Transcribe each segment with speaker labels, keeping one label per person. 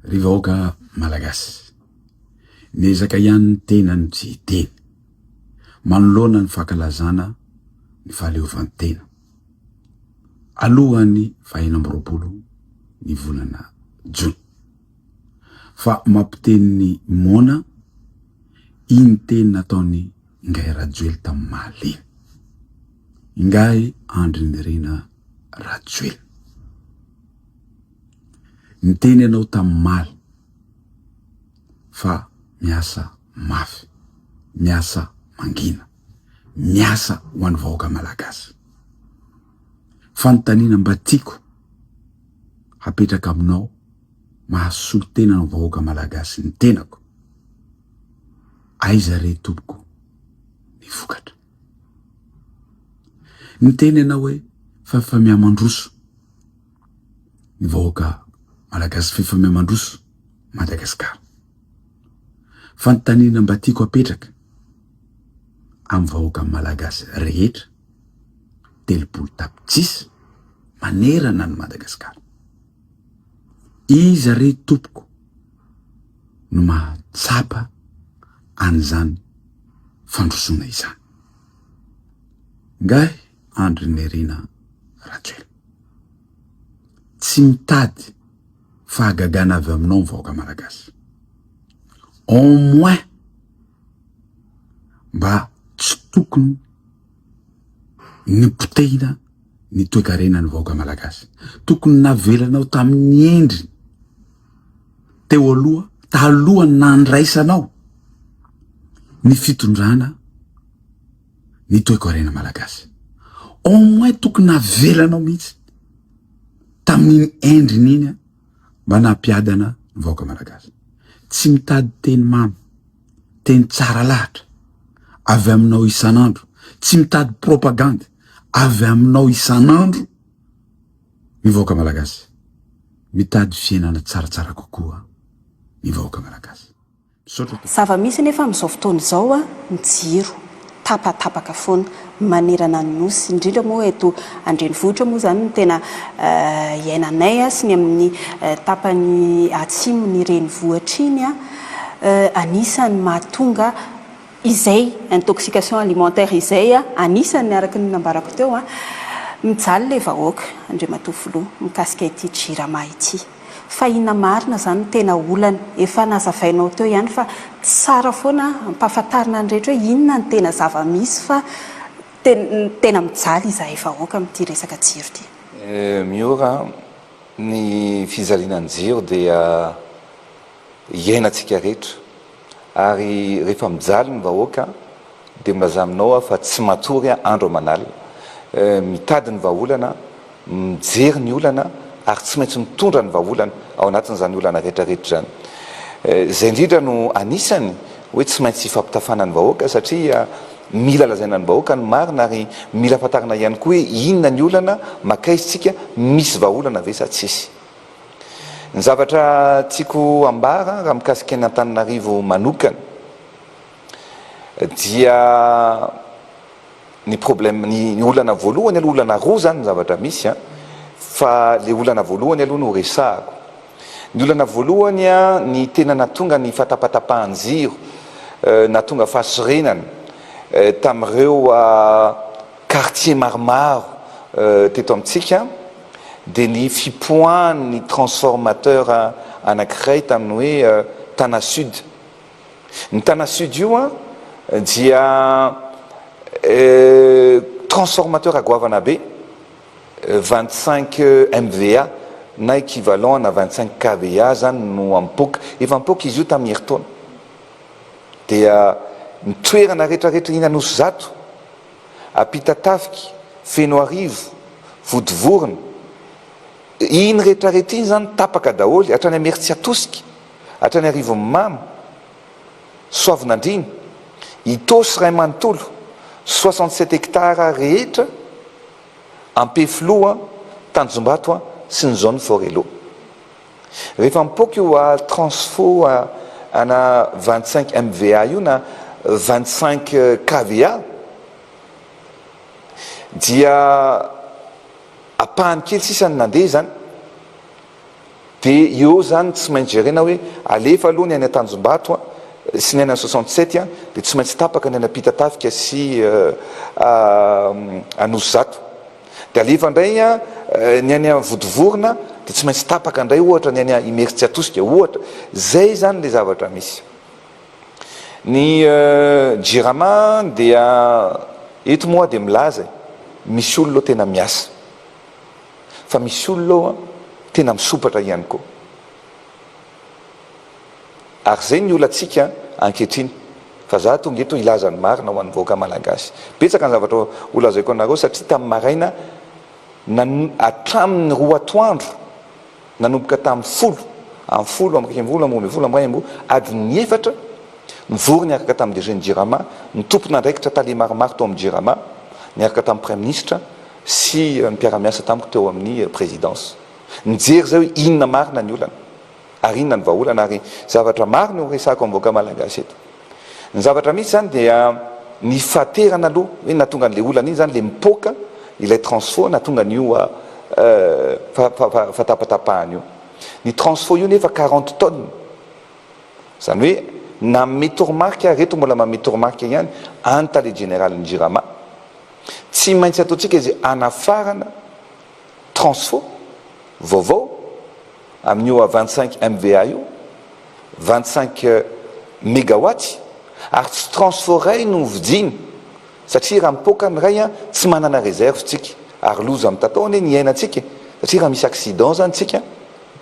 Speaker 1: Ry vahoaka Malagasy, miezaka ihany ny tena no tsy hiteny, manoloana ny fankalazana ny fahaleovantena, alohan'ny fahenina amby roapolo ny volana jona. Fa mampiteny ny moana iny teny nataon'i Ingahy Rajoely tamin'ny Mahaleo iny. Ingahy Andry Nirina Rajoelina. Niteny ianao tamin'ny maly fa miasa mafy, miasa mangina, miasa ho an'ny vahoaka malagasy. Fanontaniana mba tiako hapetraka aminao mahasolo tena ny vahoaka malagasy ny tenako, aiza re tompoko ny vokatra? Niteny ianao hoe fa fa mihamandroso, ny vahoaka malagasy f'efa miha mandroso Madagasikara. Fanontaniana mba tiako apetraka amin'ny vahoaka malagasy rehetra telopolo tapitrisa manerana an'i Madagasikara. Iza re tompoko no mahatsapa an'izany fandrosoana izany? Ngahy Andry Nirina Rachel. Tsy mitady fahagagana avy aminao ny vahoaka Malagasy. Au moins mba tsy tokony nipotehina ny toekarena ny vahoaka Malagasy. Tokony navelanao tamin'ny endriny teo aloha talohan'ny nandraisanao ny fitondrana. ny toekarena malagasy. Au moins tokony navelanao mihitsy tamin'iny endriny iny an, mba nampiadana ny vahoaka malagasy. Tsy mitady teny mamy, teny tsara lahatra avy aminao isan'andro, tsy mitady propagande avy aminao isan'andro ny vahoaka malagasy. Mitady fiainana tsaratsara kokoa ny vahoaka malagasy. Misaotra tompoko. Zava-misy
Speaker 2: anefa amin'izao fotoana izao ny jiro tapatapaka foana manerana ny Nosy, indrindra moa eto an-drenivohitra moa izany no tena iainanay sy ny amin'ny tapany atsimon'ny renivohitra iny. Anisan'ny mahatonga izay intoxication alimentaire izay, anisan'ny araka ny nambarako teo, mijaly ilay vahoaka Andriamatoa Filoha mikasika ity Jirama ity. Fa inona marina izany no tena olana? Efa nazavainao teo ihany fa tsara foana ampahafantarina ny rehetra hoe inona no tena zava-misy fa tena mijaly izahay vahoaka amin'ity resaka jiro ity. Miora
Speaker 3: ny fijaliana ny jiro dia iainantsika rehetra. Ary rehefa mijaly ny vahoaka dia milaza aminao aho fa tsy matory aho andro aman'alina. Mitady ny vahaolana, mijery ny olana ary tsy maintsy mitondra ny vahaolana ao anatin'izany olana rehetrarehetra izany. Izay indrindra no anisany hoe tsy maintsy ifampitafana ny vahoaka satria mila lazaina ny vahoaka ny marina ary mila fantarina ihany koa hoe inona ny olana, makaiza isika, misy vahaolana ve sa tsisy. Ny zavatra tiako ambara raha mikasika an' Antananarivo manokana dia ny problème, ny olana voalohany aloha, olana roa zany ny zavatra misy an, fa le olana voalohany aloha no resahako. Ny olana voalohany an, ny tena natonga ny fatapatapahan-jiro, natonga fahasorenana tamin'ireo quartiers maromaro teto amintsika, dia ny fipoahan'ny transformateur anankiray tamin'ny hoe Tana Sud. Ny Tana Sud io dia transformateur goavana be, vingt cinq MVA na equivalent ana vingt cinq KVA izany no ampoka. Efa ampoka izy io tamin'ny herintaona. Dia ny toerana rehetrarehetra eny Anosizato. Ampitatafika, Fenoarivo, Vodivorona, iny rehetra rehetra iny izany tapaka daholo, hatrany Imeritsiatosika, hatrany Arivonimamo, Soavinandriana, Itaosy iray manontolo, soixante sept hectares rehetra, Ampefiloha, Tanjombato sy ny zone Forello. Rehefa mipoaka io a transfo ana vingt cinq MVA io na vingt cinq kVA dia apahany kely sisa ny nandeha izany dia eo izany tsy maintsy jerena hoe alefa aloha ny any Antanjombato a sy ny any an soixante sept a dia tsy maintsy tapaka ny any Ampitatafika sy Anosizato. Dia alefa indray ny any Vodivorona dia tsy maintsy tapaka indray ohatra ny any Imerintsiatosika ohatra. Izay izany ilay zavatra misy. Ny Jirama dia eto moa aho dia milaza e, misy olona ao tena miasa. Fa misy olona ao tena misompatra ihany koa. Ary zay ny olantsika ankehitriny fa za tonga eto hilaza ny marina ho an'ny vahoaka malagasy. Betsaka ny zavatra holazaiko anareo satria tamin'ny maraina hatramin'ny roa atoandro nanomboka tamin'ny folo amby folo amby iraika ambin'ny folo amby roa ambin'ny folo amby iray amby roa adin'ny efatra nivory niaraka tamin'ny DG-n'ny Jirama ny tompon'andraikitra tale maromaro tao amin'ny Jirama niaraka tamin'ny Praiminisitra sy ny mpiara-miasa tamiko teo amin'ny Présidence. Mijery izay hoe inona marina ny olana ary inona ny vahaolana ary zavatra maro no horesahako amin'ny vahoaka malagasy eto. Ny zavatra misy izany dia ny fahaterana aloha hoe nahatonga an'ilay olana iny izany ilay mipoaka ilay transfo nahatonga an'io fahatapatapahana io. Ny transfo io nefa quarante tonnes. Izany hoe nanome toromarika ary eto mbola manome toromarika ihany any tale jeneralin'ny Jirama. Tsy maintsy ataontsika izay hanafarana Transfo, vaovao, amin'io A vingt cinq MVA io, vingt cinq megawatts, ary tsy transfo iray no vidiany satria raha mipoaka ny iray tsy manana reserve tsika ary loza mitatao anie ny iainantsika e! satria raha misy accident zany tsika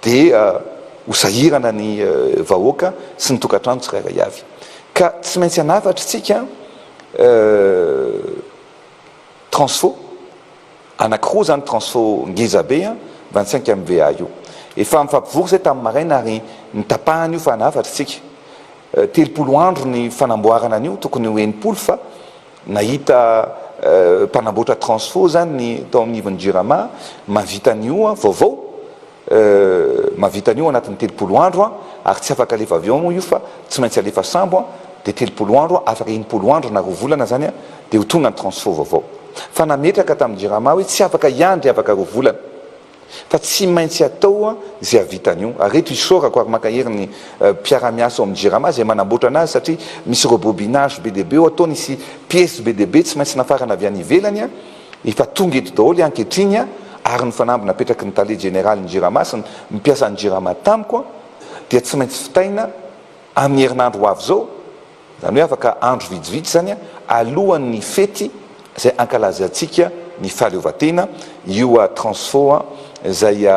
Speaker 3: dia ho sahirana ny vahoaka sy ny tokantrano tsirairay avy ka tsy maintsy hanafatra tsika Transfo anakiroa zany transfo ngeza be an, vingt cinq MVA io. Efa nifampivory zay tamin'ny maraina ary nitapahana io fa nahafatry tsika. Telopolo andro ny fanamboarana an'io tokony ho enimpolo fa nahita mpanamboatra transfo zany ny tao amin'ivon'ny jirama mahavita an'io vaovao. Euh, mahavita an'io anatin'ny telopolo andro an, ary tsy afaka alefa avion moa io fa tsy maintsy alefa sambo an, dia telopolo andro an, afaka enimpolo andro na roa volana zany an, dia ho tonga ny transfo vaovao. Fa nametraka tamin'ny jirama hoe tsy afaka hiandry afaka roa volana, fa tsy maintsy atao an, izay hahavita an'io. Ary eto isaorako ary mankahery ny euh, mpiara-miasa ao amin'ny jirama izay manamboatra anazy satria misy rebobinage be dia be ao, ataony hisy piece be dia be tsy maintsy nafarana avy any ivelany an, Efa tonga eto daholo ankehitriny ary ny fanamby napetraky ny tale jeneralin'ny Jirama sy ny mpiasan'ny Jirama tamiko dia tsy maintsy vitaina amin'ny herinandro ho avy izao, izany hoe afaka andro vitsivitsy izany alohan'ny fety izay hankalazantsika ny fahaleovantena io Transfo izay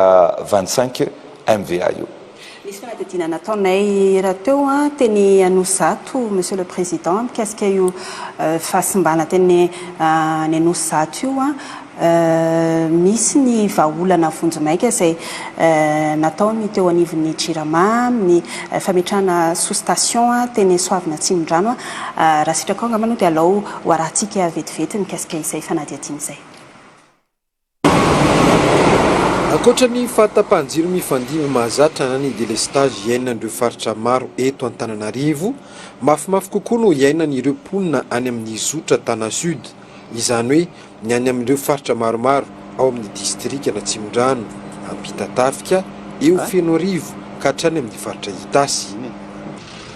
Speaker 3: vingt cinq MVA io. Nisy fanadihadiana
Speaker 2: nataonay rahateo teny Anosizato, Monsieur le Président, mikasika io fahasimbana teny any Anosizato io. Misy ny vahaolana vonjimaika izay natao ny teo anivon'ny Jirama amin'ny fametrahana sous-station teny Soavina Atsimondrano. Raha sitraka ao angamba no dia alao ho arahintsika vetivety ny mikasika izay fanadihadiana izay.
Speaker 4: Ankoatra ny fahatapahan-jiro mifandimby mahazatra na ny delestazy iainan'ireo faritra maro eto Antananarivo, mafimafy kokoa no iainan'ireo mponina any amin'ny zotra Tana Sud, izany hoe ny any amin'ireo faritra maromaro ao amin'ny distrikan'Atsimondrano, Ampitatafika, eo Fenoarivo ka hatrany amin'ny faritra Itasy.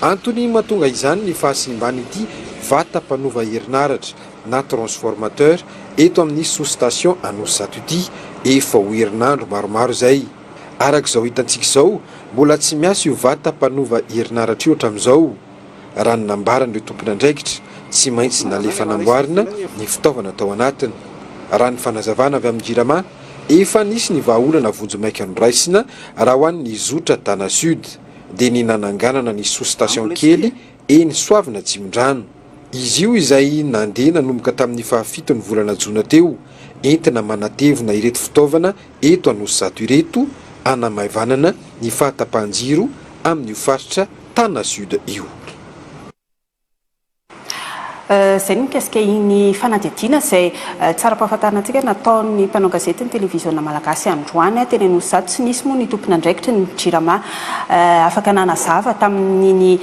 Speaker 4: Antony mahatonga izany ny fahasimban'ity vata mpanova herinaratra. na transformateur eto amin'ny sous-station Anosizato ity efa ho herinandro maromaro izay. Araka izao hitantsika izao, mbola tsy miasa io vata mpanova herinaratra io hatramin'izao. Raha ny nambaran'ireo tompon'andraikitra, tsy maintsy nalefa namboarina ny fitaovana tao anatiny. Raha ny fanazavana avy amin'ny Jirama, efa nisy ny vahaolana vonjimaika noraisina raha ho an'ny zotra Tana Sud, dia ny nananganana ny sous-station kely eny Soavina Atsimondrano. Izy io izay nandeha nanomboka tamin'ny fahafiton'ny volana jona teo, entina manatevina ireto fitaovana eto Anosizato ireto, hanamaivanana ny fahatapahan-jiro amin'io faritra Tana Sud io.
Speaker 2: Izay ny mikasika iny fanadihadiana izay tsara ampahafantarina antsika nataon'ny mpanao gazety ny televiziona malagasy androany teny Anosizato. Tsy nisy moa ny tompon'andraikitry ny Jirama Afaka nanazava tamin'iny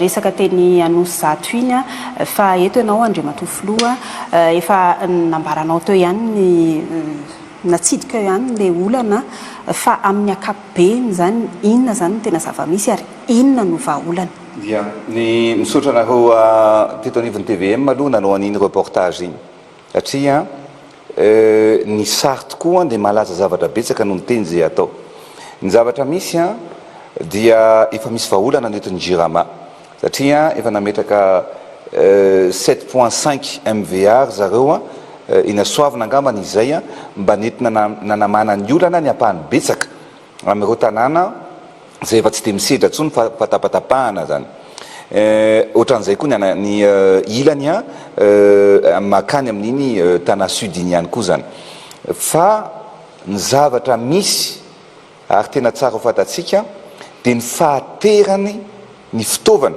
Speaker 2: resaka teny Anosizato iny aho fa eto ianao Andriamatoa Filoha, efa nambaranao teo ihany ny natsidika eo ihany ilay olana fa amin'ny ankapobeny izany inona izany no tena zava-misy ary inona no vahaolana? Dia ny
Speaker 3: misaotra anareo teto anivon'ny tvm aloha nanao an'iny reportage iny. Satria ny sary tokoa dia malaza zavatra betsaka noho ny teny izay atao. Ny zavatra misy dia efa misy vahaolana ny eto ny Jirama satria efa nametraka sept point cinq MVA ry zareo eny Soavina angambany izay mba nentina nanamana ny olana ny ampahany betsaka. Amin'ireo tanàna izay efa tsy dia misedra intsony fa fatafatapahana izany. Ohatran'izay koa ny an, ny ilany an, makany amin'iny Tana Sud iny ihany koa izany. Fa ny zavatra misy ary tena tsara ho fantatsika dia ny fahaterany ny fitaovana.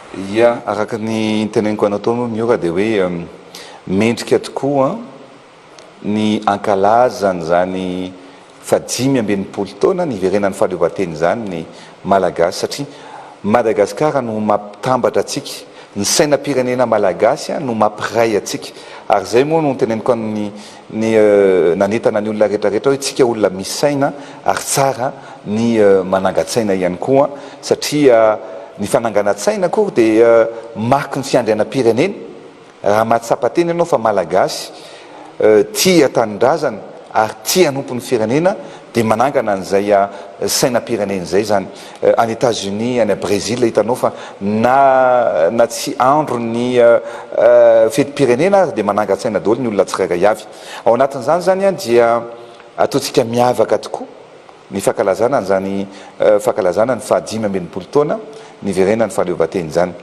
Speaker 2: Ia,
Speaker 3: araka ny niteneniko anao tao aloha Miora dia hoe mendrika tokoa ny hankalazany izany faha dimy amby enimpolo taona niverenan'ny fahaleovantena izany ny Malagasy satria Madagasikara no mampitambatra antsika, ny sainam-pirenena malagasy no mampiray antsika ary izay moa no niteneniko an'i ny nanentana ny olona rehetra rehetra hoe isika olona misy saina ary tsara ny manangan-tsaina ihany koa satria ny fananganan-tsaina akory dia mariky ny fiandrianam-pirenena raha mahatsapa tena ianao fa malagasy tia tanindrazana ary tia hanompo ny firenena dia manangana an'izay sainam-pirenena izay izany any Etats Unis, any Brezila hitanao fa na na tsy andro ny fetim-pirenena aza dia manangan-tsaina daholo ny olona tsirairay avy. Ao anatin'izany izany dia ataontsika miavaka tokoa ny fankalazana an'izany fankalazana ny faha dimy amby enimpolo taona niverenan'ny fahaleovantena izany.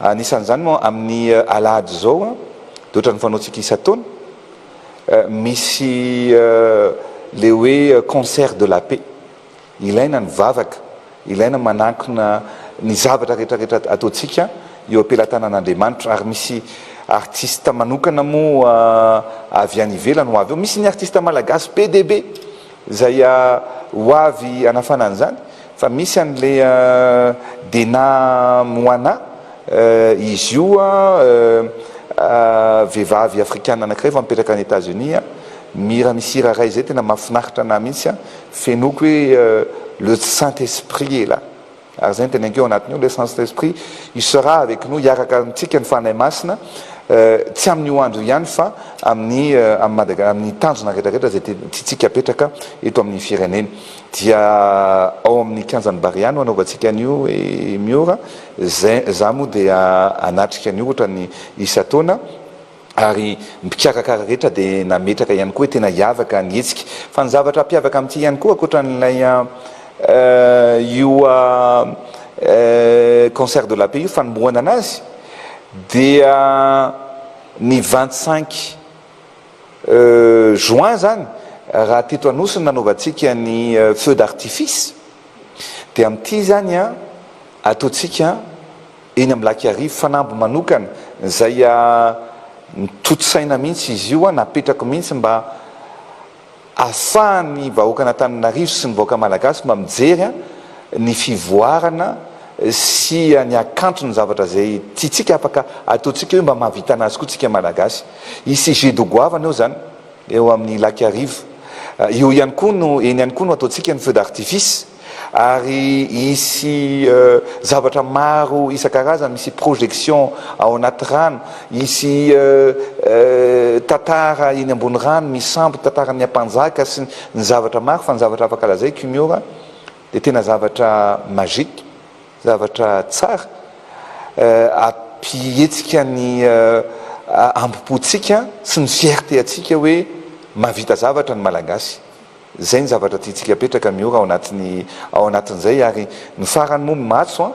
Speaker 3: Anisan'izany moa amin'ny alahady izao dia ohatran'ny fanaontsika isan-taona misy ilay hoe concert de la paix Ilaina ny vavaka, ilaina manankina ny zavatra rehetrarehetra ataontsika eo am-pelatanan'Andriamanitra ary misy artista manokana moa avy any ivelany ho avy eo, misy ny artista malagasy be dia be izay ho avy hanafana an'izany fa misy an'le Dena Moana, izy io vehivavy afrikana anankiray fa mipetraka any Etats-Unis, mihira misy hira iray izay tena mahafinaritra anah mihitsy. Fenoiko hoe le saint esprit est là ary izay no tena enkeo anatiny ao, le saint esprit il sera avec nous, hiaraka amintsika ny Fanahy Masina tsy amin'io andro io ihany fa amin'ny amin'ny amin'ny tanjona rehetra rehetra izay tiantsika apetraka eto amin'ny firenena dia ao amin'ny kianjan'i Barea no anaovantsika an'io i Miora, izay za moa dia hanatrika an'io ohatran'ny isan-taona. ary ny mpikarakara rehetra dia nametraka ihany koa hoe tena hiavaka ny hetsika. Fa ny zavatra hampiavaka amin'ity ihany koa ankoatra an'ilay io concert de la paix io fanombohana anazy dia ny vingt cinq juin izany raha teto Anosy no nanaovantsika ny feux d'artifice dia amin'ity izany ataontsika Eny amin'ny lac Iarivo fanamby manokana izay notontosaina mihitsy izy io, napetrako mihitsy mba ahafahan'ny vahoakan'Antananarivo sy ny vahoaka malagasy mba mijery ny fivoarana sy ny hakanton'ny zavatra izay tiantsika afaka ataontsika hoe mba mahavita anazy koa tsika malagasy. Hisy jeux de goavana eo izany eo amin'ny lac Iarivo. Eo ihany koa no, eny ihany koa no ataontsika ny feux d'artifice. Ary hisy zavatra maro isan-karazany, misy projection ao anaty rano, hisy tantara eny ambony rano misampy tantaran'ny ampanjaka sy ny zavatra maro, fa ny zavatra afaka lazaiko i Miora dia tena zavatra magique, zavatra tsara hampihetsika ny hambom-pontsika sy ny fierté antsika hoe mahavita zavatra ny Malagasy. Izay ny zavatra tiantsika apetraka Miora ao anatin'ny ao anatin'izay ary ny farany moa ny matso an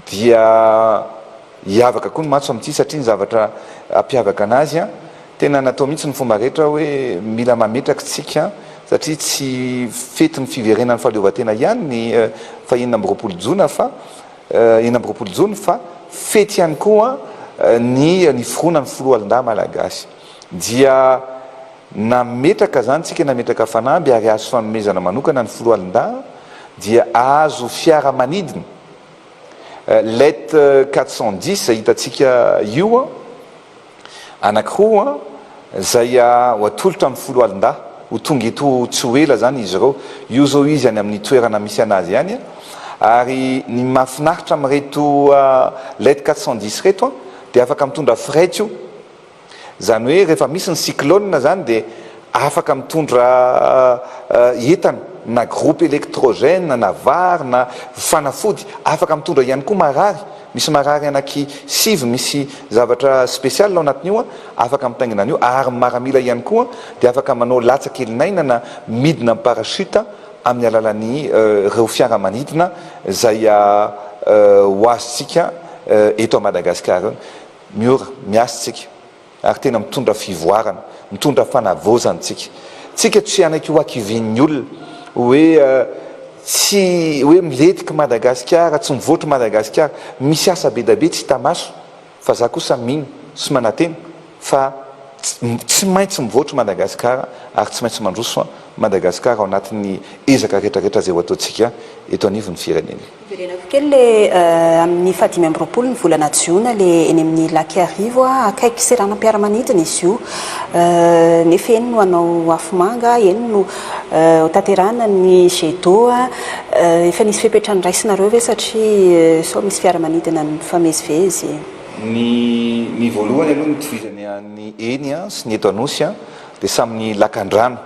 Speaker 3: dia hiavaka koa ny matso amin'ity satria ny zavatra hampiavaka anazy an tena natao mihitsy ny fomba rehetra hoe mila mametraka isika satria tsy fetin'ny fiverenan'ny fahaleovantena ihany ny faha enina amby roapolo jona fa enina amby roapolo jona fa fety ihany koa ny niforoana ny filoha alindahy malagasy dia Nametraka izany tsika nametraka fanamby ary azo fanomezana manokana ny filoha alindahy dia ahazo fiara manidina let quatre cent dix izay hitantsika io anakiroa izay ho atolotra amin'ny filoha alindahy ho tonga eto tsy ho ela izany izy ireo io izao izy any amin'ny toerana misy anazy any ary ny mahafinaritra amin'ireto let quatre cent dix ireto dia afaka mitondra frette io Izany hoe rehefa misy ny cyclone izany dia afaka mitondra entana na groupe electrogène na vary na fanafody, afaka mitondra ihany koa marary, misy marary anaky sivy misy zavatra special ao anatin'io an, afaka mitaingina an'io ary maramila ihany koa dia afaka manao latsa kelin'aina na midina am parachute amin'ny alalan'ny reo fiara manidina izay ho azontsika eto Madagasikara eo. Miora, miasa tsika ary tena mitondra fivoarana, mitondra fanavaozana tsika. Tsika tsy hanaiky ho hakivian'ny olona hoe tsy hoe miletika Madagasikara, tsy mivoatra Madagasikara. Misy asa bedabe tsy hita maso fa za kosa mino sy manatena fa tsy maintsy mivoatra Madagasikara ary tsy maintsy mandroso Madagasikara ao anatin'ny ezaka retraretra zay ho ataontsika eto anivon'ny firenena. Hiverenako kely le
Speaker 2: amin'ny fahadimy amby roapolo ny volana jiona le eny amin'ny lac Iarivo a, akaiky seranam-piaramanidina izy io nefa eny no hanao afomanga, eny no hotanterahana ny jet d'eau a, efa nisy fepetra noraisinareo ve satria sao misy fiaramanidina mifamezivezy? Ny
Speaker 3: ny voalohany aloha nitovizany an'ny eny sy ny eto Anosy dia samy ny lakandrano.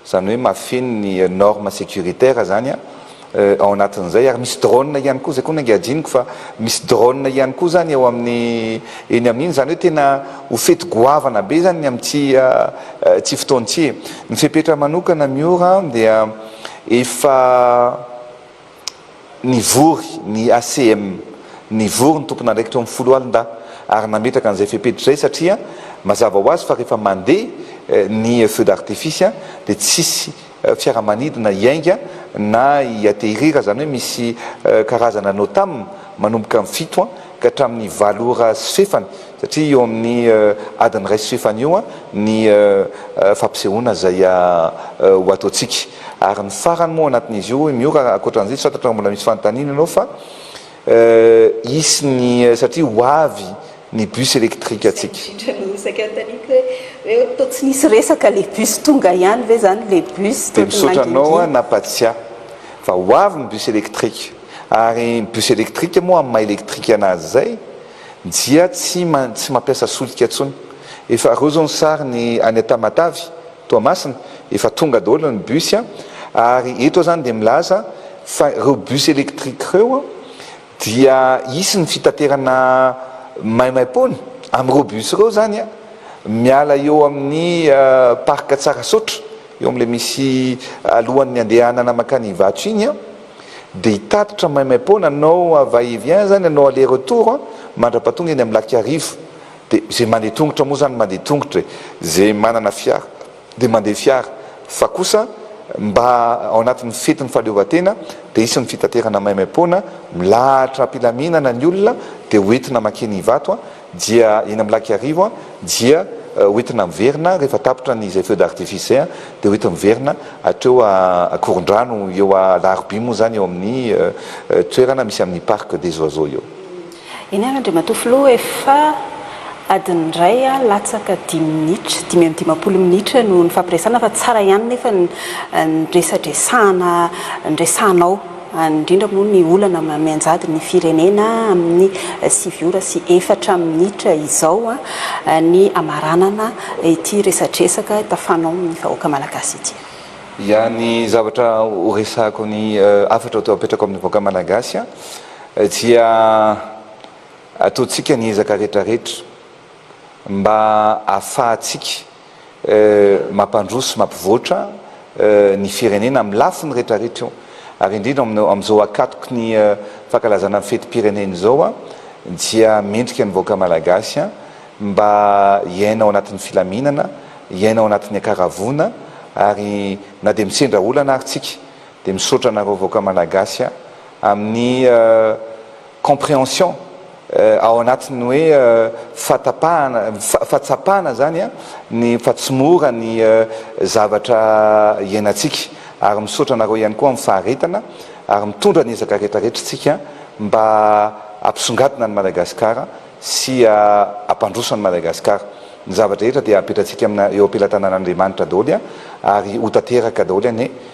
Speaker 3: Izany hoe mahafeno ny norme securitaire zany an, ao anatin'izay ary misy drone ihany koa, izay koa no angajianiko fa misy drone ihany koa zany eo amin'ny eny amin'iny, izany hoe tena ho fety goavana be zany ny amin'ity ity fotoana ity e! Ny fepetra manokana Miora dia efa. Nivory ny ACM, nivory ny tompon'andraikitra eo amin'ny foloalindahy ary nametraka an'izay fepetra izay satria mazava ho azy fa rehefa mandeha ny feux d'artifice dia tsisy fiaramanidina hiainga na hi atterrir izany hoe misy karazana NOTAM manomboka amin'ny fito ka hatramin'ny valo ora sy fefany Satria eo amin'ny adin'ny iray sy fahefany io ny fampisehoana izay ho ataontsika. Ary ny farany moa anatin'izy io hoy Miora, ankoatran'izay tsy fantatro raha mbola misy fanontaniana ianao fa hisy ny satria ho avy ny bus électrique antsika. Izay indrindra no saika anontaniako hoe
Speaker 2: hoe toa tsy nisy resaka le bus tonga ihany ve izany le bus toa tsy nangingina. Dia misaotra anao
Speaker 3: nampatsiahy fa ho avy ny bus électrique. Ary ny bus électrique moa amin'ny maha électrique anazy izay, Dia tsy tsy mampiasa solika tsony. Efa areo zao ny sary ny any an Tamatave, Toamasina, efa tonga daholo ny bus a, ary eto aho zany dia milaza fa ireo bus électrique ireo dia hisy ny fitaterana maimaimpoana amin'ireo bus ireo zany a, miala eo amin'ny parc Tsarasaotra, eo amin'ilay misy alohan'ny andehanana makany Ivato iny a. Dia hitatitra maimaim-poana hanao va et vient zany hanao aller retour mandrapa tonga eny amin'ny lac Iarivo. Dia zay mandeha tongotra moa zany mandeha tongotra e! Zay manana fiara dia mandeha fiara fa kosa mba ao anatin'ny fetin'ny fahaleovantena dia hisy ny fitaterana maimaim-poana milahatra am-pilaminana ny olona dia ho entina makeny Ivato Dia eny amin'ny lac Iarivo dia hoentina miverina rehefa tapitra ny izay feux d'artifice izay dia hoentina miverina hatreo Ankorondrano eo Alarobia moa izany eo amin'ny toerana misy amin'ny parc des oiseaux eo. Eny ary
Speaker 2: Andriamatoa Filoha efa adiny iray latsaka dimy minitra, dimy amby dimampolo minitra no nifampiresahana fa tsara ihany nefa ny resadresahana niresahanao. any indrindra moa ny olana mianjady ny firenena amin'ny sivy ora sy efatra minitra izao ny hamaranana ity resadresaka tafanao amin'ny vahoaka malagasy ity. Ya, ny
Speaker 3: zavatra horesahako ny hafatra apetrako amin'ny vahoaka malagasy dia ataontsika ny ezaka rehetra rehetra mba hahafahantsika. mampandroso sy mampivoatra ny firenena amin'ny lafiny rehetrarehetra io ary indrindra amin'izao akatoky ny fankalazana ny fetim-pirenena izao dia mendrika ny vahoaka malagasy mba hiaina ao anatin'ny filaminana, hiaina ao anatin'ny ankaravoana ary na dia misendra olana ary tsika. Dia misaotra anareo vahoaka Malagasy a, amin'ny comprehension ao anatin'ny hoe fatapahana, fahatsapana zany a, ny fa tsy mora ny zavatra iainantsika. Ary misaotra anareo ihany koa amin'ny faharetana, ary mitondra ny ezaka rehetra rehetra tsika mba hampisongadina an'i Madagasikara sy hampandroso an'i Madagasikara. Ny zava-drehetra dia apetratsika amina eo am-pelatanan'Andriamanitra daholo ary ho tanteraka daholo anie.